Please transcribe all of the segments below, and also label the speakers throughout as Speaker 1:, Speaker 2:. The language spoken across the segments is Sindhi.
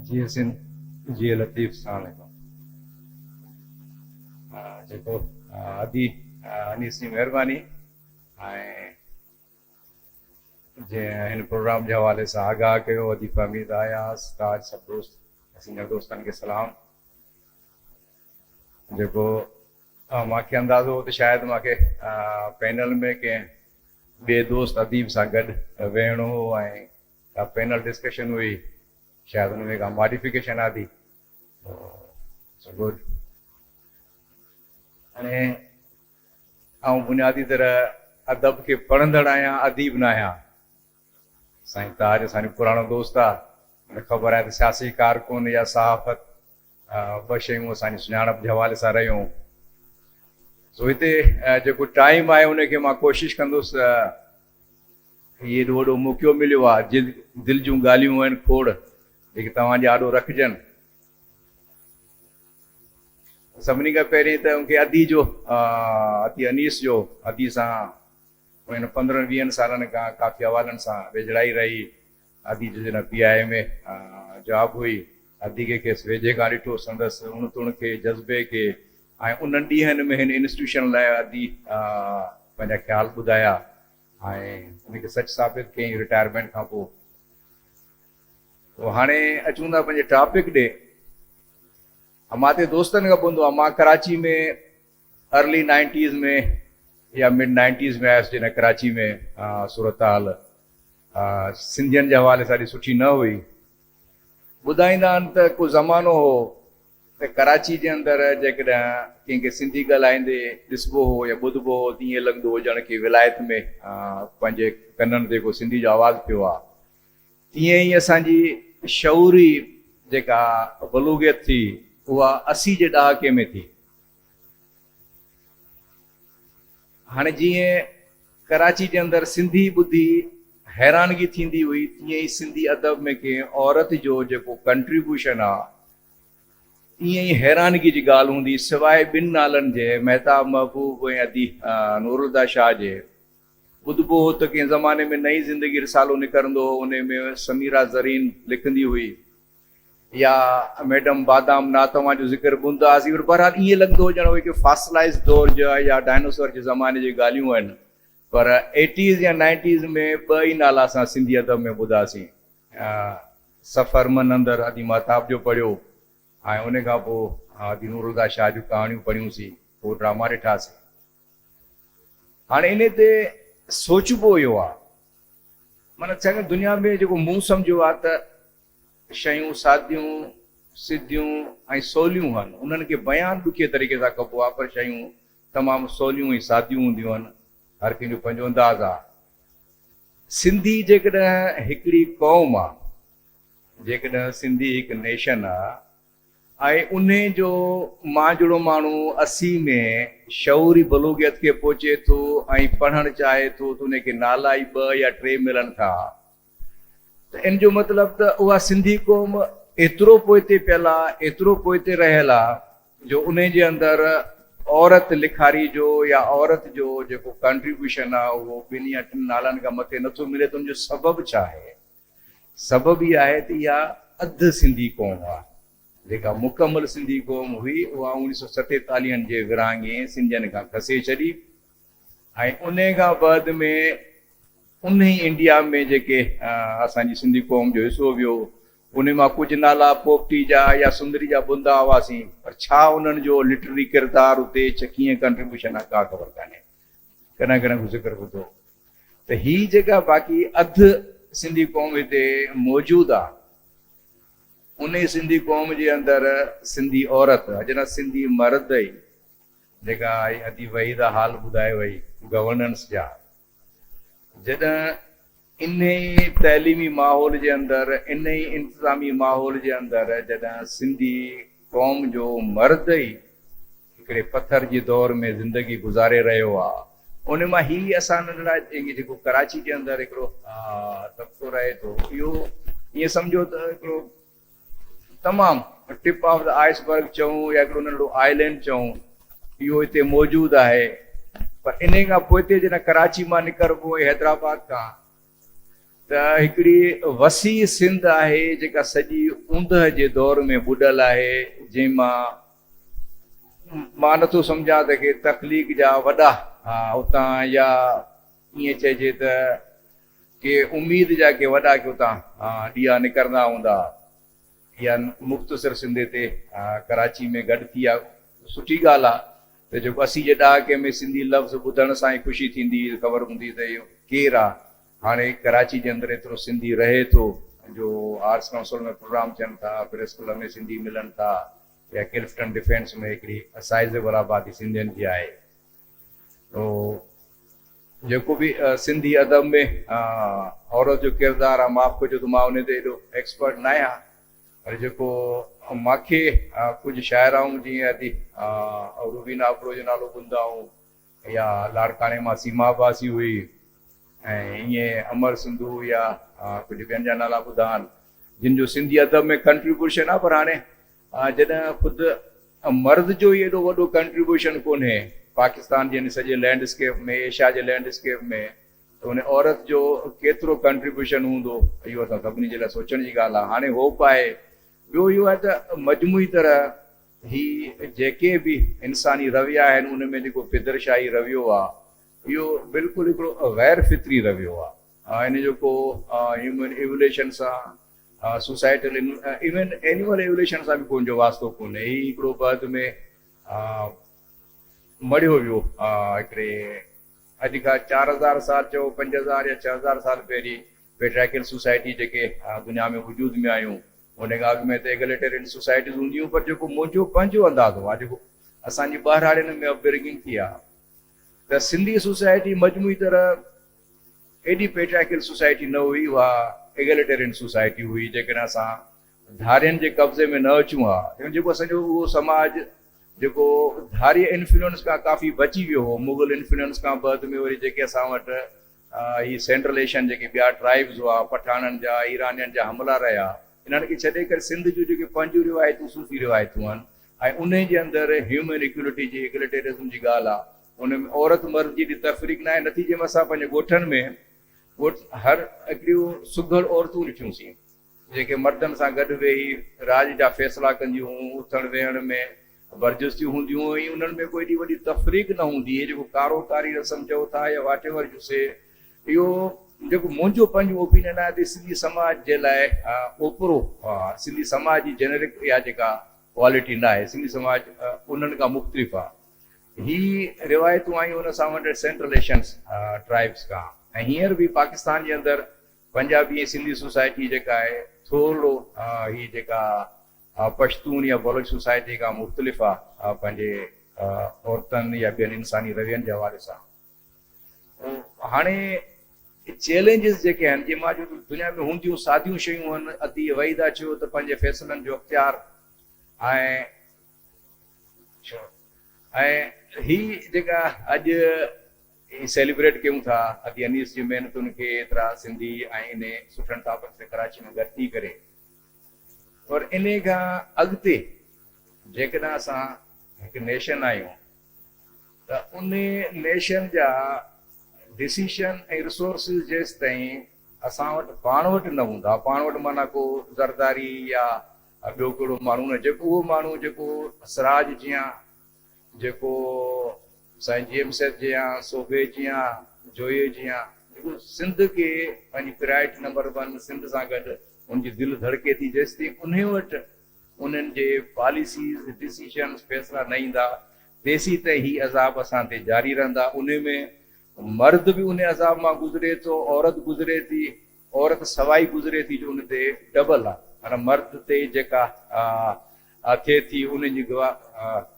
Speaker 1: جيئي سنڌ جيئي لطيف ساڻ جو جيڪو ادي انيسي مهرباني جنهن هن پروگرام جي حوالي سان آگاهه ڪيو ادي فهميد اياز تاج سڀ دوست سنگر دوستن کي سلام جيڪو مانکي اندازو هو ته شايد مانکي پينل ۾ ڪنهن ٻي دوست اديب سان گڏ ويهڻو هو ۽ اها پينل ڊسڪشن هئي شايد ان ۾ ڪا ماڊيفڪيشن آندي تو اٽس گڊ هاڻي آئون بنيادي طرح ادب کي پڙهندڙ آهيان اديب نه آهيان سائين تاج اسانجو پراڻو دوست آ مون کي خبر آهي ته سياسي ڪارڪن يا صحافت ٻه شيون اسان جي سڃاڻپ جي حوالي سان رهيون. سو هتي جيڪو ٽائيم آهي ان کي مان ڪوشش ڪندس هي ايڏو وڏو موقعو مليو آهي جي دل جون ڳالهيون آهن کوڙ جيڪي توهان جي آڏو رکجن. سڀني کان پهرين ته ان کي ادي جو ادي انيس جو ادي سان پنهن پندرهن ويهن سالن کان ڪافي حوالن سان ويجهڙائي رهي ادي جي جنھن P I M A job ھئي، ادي کي کيس ويجھي کان ڏٺو، سندس اڻتڻ کي، جذبي کي ۽ انھن ڏينھن ۾ ھن انسٽيٽيوشن لاء ادي پنھنجا خيال ٻڌايا ۽ ان کي سچ ثابت ڪيائين رٽائرمينٽ کان پوء. ھاڻي اچون ٿا پنھنجي ٽاپڪ ڏي. امان تي دوستن کان ٻڌو آھي، مان ڪراچي ۾ ارلي نائنٽيز ۾ يا مڊ نائنٽيز ۾ آيس جڏهن ڪراچي ۾ صورتحال سنڌين جي حوالي سان ايڏي سٺي نه هئي. ٻڌائيندا آهن ته ڪو زمانو هو ته ڪراچي جي اندر جيڪڏهن ڪنهن کي سنڌي ڳالهائيندي ڏسبو هو يا ٻڌبو هو ته ائين لڳندو هو ڄڻ ڪنهن ولايت ۾ پنهنجي ڪنن تي ڪو سنڌي جو آواز پيو آ. تيئن ئي اسان جي شعوري جيڪا بلوغيت ٿي اها اسي جي ڏهاڪي ۾ ٿي. هاڻي جيئن ڪراچي جي اندر سنڌي ٻڌي حيرانگي ٿيندي هئي تيئن ئي سنڌي ادب ۾ ڪنهن عورت جو جيڪو ڪنٽريبيوشن آ ايئن ئي حيرانگي جي ڳالهه هوندي سواء ٻن نالن جي مهتاب محبوب ۽ ادي نورالهديٰ شاهه جي. ٻڌبو هو ته ڪنهن زماني ۾ نئين زندگي رسالو نڪرندو هو انهي ۾ سميرا زرين لکندي هئي. يا ميڊم بادام نا توهان جو ذڪر ڪونه ٿا آسين پر بهرحال ائين لڳندو هو ڄڻ اهي ڪي فاسلائيز دور جا يا ڊائنوسور جي زماني جي ڳالهيون آهن پر ايٽيز يا نائنٽيز ۾ ٻه ئي نالا اسان سنڌي ادب ۾ ٻڌا سين ۽ سفر من اندر ادي مهتاب جو پڙهيو ۽ ان کان پوء ادي نورالهديٰ شاهه جون ڪهاڻيون پڙهيون سين پوء ڊراما ڏٺا سين هاڻي انهي تي سوچبو اهو آهي معنيٰ چڱي دنيا ۾ جيڪو مون سمجهيو آهي ته شيون ساديون، سڌيون ۽ سوليون هن. انهن کي بيان ڏکي طريقي سان ڪبو آهي پر شيون تمام سوليون ۽ ساديون هونديون هن. هر ڪنهن جو پنهنجو انداز آهي. سنڌي جيڪڏهن هڪڙي قوم آهي، جيڪڏهن سنڌي هڪ نيشن آهي ۽ انهي جو مانجهڙو ماڻهو اسي ۾ شعوري بلوغيت کي پهچي ٿو ۽ پڙهڻ چاهي ٿو ته انهي کي نالا ئي ٻه يا ٽي ملن ٿا ته ان جو مطلب ته اها سنڌي قوم ايترو پوئتي پيل آ، ايترو پوئتي رهيل آ جو انهي جي اندر عورت لکاري جو يا عورت جو جيڪو ڪانٽريبيوشن آ اهو ٻن يا ٽن نالن کان مٿي نٿو ملي ته ان جو سبب ڇا آهي؟ سبب هي آهي ته اها اڌ سنڌي قوم آ جيڪا مڪمل سنڌي قوم هئي اها اوڻيهه سئو ستيتاليهن جي ورهاڱي سنڌين کان کسي ڇڏي، ۽ انهي کان بعد ۾ انهي انڊيا ۾ جيڪي اسان جي سنڌي قوم جو حصو ويو انهي مان ڪجهه نالا پوپٽي جا يا سندري جا ٻڌندا هئاسين پر ڇا انهن جو لٽرري ڪردار اتي چھ ڪيئن ڪنٽريبيوشن آ ڪا خبر ڪانهي ڪڏهن ڪڏهن ڪو ذڪر ٻڌو ته هي جيڪا باقي اڌ سنڌي قوم هتي موجود آ انهي سنڌي قوم جي اندر سنڌي عورت اڄ نه سنڌي مرد ئي جيڪا آئي ادي وهي دا حال ٻڌائي وئي گورننس جا جڏهن انهي تعليمي ماحول جي اندر انهي انتظامي ماحول جي اندر جڏهن سنڌي قوم جو مرد ئي هڪڙي پٿر جي دور ۾ زندگي گذاري رهيو آ انهي مان هي اسان ننڍڙا جيڪو ڪراچي جي اندر هڪڙو طبقو رهي ٿو اهو ائين سمجهو ته هڪڙو تمام tip of the iceberg چئون يا هڪڙو ننڍڙو آئي لينڊ چئون اهو هتي موجود آهي پر انهي کان پوئتي جڏهن ڪراچي مان نڪربو ۽ حيدرآباد کان ته هڪڙي وسيع سنڌ آهي جيڪا سڄي اوندهه جي دور ۾ ٻڏل آهي جنهن مان مان نٿو سمجهان ته ڪي تخليق جا وڏا اتان يا ائين چئجي ته ڪي اميد جا ڪي وڏا ڪي اتان ڏيئا نڪرندا هوندا يا مختصر سنڌي تي ڪراچي ۾ گڏ ٿي يا سٺي ڳالهه آ ته جيڪو اسي جي ڏهاڪي ۾ سنڌي لفظ ٻڌڻ سان ئي خوشي ٿيندي هئي خبر هوندي ته اهو ڪير آ هاڻي ڪراچي جي اندر ايترو سنڌي رهي ٿو جو آرٽس ڪائونسل ۾ پروگرام ٿين ٿا پريس ڪلب ۾ سنڌي ملن ٿا يا ڪلفٽن ڊفينس ۾ هڪڙي سائيزيبل آبادي سنڌين جي آهي جيڪو به سنڌي ادب ۾ عورت جو ڪردار آ معاف ڪجو ته مان ان تي ايڏو ايڪسپرٽ نه آهيان پر جيڪو ماکي ڪجهه شاعرائون جيئن ادي روبينا ابڙو جو نالو ٻڌندا آهون يا لاڙڪاڻي مان سيما عباسي هئي ۽ ائين امر سنڌو يا ڪجهه ٻين جا نالا ٻڌا آهن جن جو سنڌي ادب ۾ ڪنٽريبيوشن آ پر هاڻي ها جڏهن خود مرض جو ئي ايڏو وڏو ڪنٽريبيوشن ڪونهي پاڪستان جي ان سڄي لينڊ اسڪيپ ۾ ايشيا جي لينڊ اسڪيپ ۾ ته ان عورت جو ڪيترو ڪنٽريبيوشن هوندو اهو اسان سڀني جي لاء سوچڻ جي ڳالهه آهي هاڻي هوپ آهي ٻيو اهو آهي ته مجموعي طرح هي جيڪي به انساني رويا آهن ان ۾ جيڪو پدرشاهي رويو آهي اهو بلڪل هڪڙو غير فطري رويو آهي ان جو ڪو هيومن ايوليشن سان سوسائٽل ايون اينيمل ايوليوشن سان به ڪو ان جو واسطو ڪونهي. هي هڪڙو بعد ۾ مڙهيو ويو هڪڙي اڄ کان چار هزار سال چئو پنج هزار يا ڇهه هزار سال پهرين پيٽريڪل سوسائٽي جيڪي دنيا ۾ وجود ۾ آيون ان کان اڳ ۾ ته ايگليٽرين سوسائٽيز هونديون هيون پر جيڪو منهنجو پنهنجو اندازو آهي جيڪو اسان جي ٻهراڙين ۾ اپبرنگنگ ٿي آهي ته سنڌي سوسائٽي مجموعي طرح ايڏي پيٽرائڪل سوسائٽي نه هئي، اها ايگليٽيرين سوسائٽي هئي، جيڪڏهن اسان ڌارين جي قبضي ۾ نه اچون ها، يعني جيڪو اسان جو اهو سماج جيڪو ڌارين انفلوئنس کان ڪافي بچي ويو هو، مغل انفلوئنس کان بعد ۾ وري جيڪي اسان وٽ هي سينٽرل ايشين جيڪي ٻيا ٽرائبز هئا، پٺاڻن جا، ايرانين جا حملا رهيا، انهن کي ڇڏي ڪري سنڌ جون جيڪي پنهنجون روايتون صوفي روايتون آهن، ۽ انهي جي اندر هيومن ايڪوليٽي جي ايگليٽيرزم جي ڳالهه آ ان ۾ عورت مرد جي ايڏي تفريق ناهي نتيجي ۾ اسان پنهنجي ڳوٺن ۾ ڳوٺ هر اهڙيون سگهڙ عورتون ڏٺيون سين جيڪي مردن سان گڏ ويهي راڄ جا فيصلا ڪنديون هون اٿڻ ويهڻ ۾ برجستيون هونديون هون ۽ انهن ۾ ڪو ايڏي وڏي تفريق نه هوندي هي جيڪو ڪارو ڪاري رسم چئو ٿا يا واٽيور يو سي اهو جيڪو منهنجو پنهنجو اوپينين آهي ته سنڌي سماج جي لاء اوپرو سنڌي سماج جي جينرڪ اها جيڪا ڪوالٽي نه آهي سنڌي سماج انهن کان مختلف آهي هي روايتون آيون ان سان ونڊيڊ سينٽرل ايشنس ٽرائبس کان ۽ هينئر به پاڪستان جي اندر پنجابي ۽ سنڌي سوسائٽي جيڪا آهي ٿورڙو هي جيڪا پشتون يا بلوچ سوسائٽي کان مختلف آهي پنهنجي عورتن يا ٻين انساني روين جي حوالي سان. هاڻي چئلينجز جيڪي آهن جي مان جو دنيا ۾ هونديون ساديون شيون هن ادي وحيده چيو ته پنهنجي فيصلن جو اختيار ۽ ۽ هي جيڪا اڄ سيليبريٽ ڪيون ٿا ادي انيس جي محنتن کي ايترا سنڌي ۽ انهي سٺن ٽاپڪ تي ڪراچي ۾ گڏ ٿي ڪري پر انهي کان اڳتي جيڪڏهن اسان هڪ نيشن آهيون ته ان نيشن جا ڊسيشن ۽ رسورسز جيستائين اسان وٽ پاڻ وٽ نه هوندا، پاڻ وٽ معنيٰ ڪو زرداري يا ٻيو ڪهڙو ماڻهو نه جيڪو اهو ماڻهو جيڪو سراج جيان، جيڪو سائين جي ايم سيد جيان، سوڀي جيان، جويي جيان جيڪو سنڌ کي پنهنجي پرائرٽي نمبر ون سنڌ سان گڏ ان جي دل ڌڙڪي ٿي جيستائين انهي وٽ انهن جي پاليسيز، ڊسيشنز، فيصلا نه ايندا تيسين تائين هي عذاب اسان تي جاري رهندا. انهي ۾ مرد به انهي عذاب مان گذري ٿو، عورت گذري ٿي، عورت سوائي گذري ٿي جو ان تي ڊبل آ معنيٰ مرد تي جيڪا ٿئي ٿي انهي جي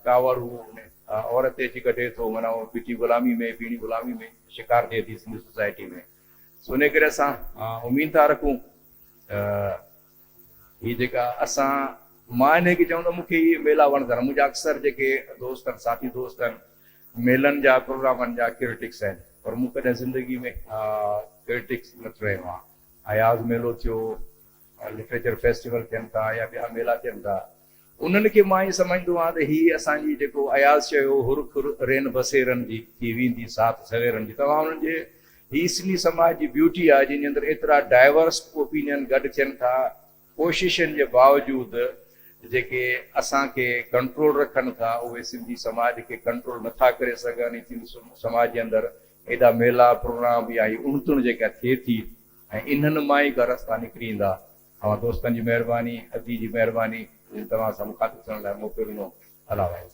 Speaker 1: ڪاوڙ هو عورت تي اچي ڪڍي ٿو معنيٰ هو ٻيٺي غلامي ۾ بيڻي غلامي ۾ شڪار ٿئي ٿي سنڌي سوسائٽي ۾ سو انهي ڪري اسان اميد ٿا رکون ته هي جيڪا اسان مان انهي کي چون ته مون کي اهي ميلا وڻندڙ آهن منهنجا اڪثر جيڪي دوست آهن ساٿي دوست آهن ميلن جا پروگرامن جا ڪرٽڪس آهن پر مون ڪڏهن زندگي ۾ ڪرٽڪس نه ٿيو آهيان اياز ميلو ٿيو لٽريچر فيسٽيول ٿين ٿا يا ٻيا ميلا ٿين ٿا انهن کي مان ائين سمجهندو آهيان ته هي اسان جي جيڪو اياز چيو هو هر کر رين بسيرن جي ٿي ويندي ساٿ سويرن جي توهان انهن جي هي سنڌي سماج جي بيوٽي آهي جنهن جي اندر ايترا ڊائيورس اوپينين گڏ ٿين ٿا ڪوششن جي باوجود جيڪي اسان کي ڪنٽرول رکن ٿا اهي سنڌي سماج کي ڪنٽرول نه ٿا ڪري سگهن هي سنڌي سماج جي اندر ايڏا ميلا پروگرام يا هي اڻ تڻ جيڪا ٿئي ٿي ۽ انهن مان ئي ڪا رستا نڪري ايندا. اوهان دوستن جي مهرباني ادي جي مهرباني جن توهان سان مخاطب ٿيڻ لاء موقعو ڏنو الله حافظ.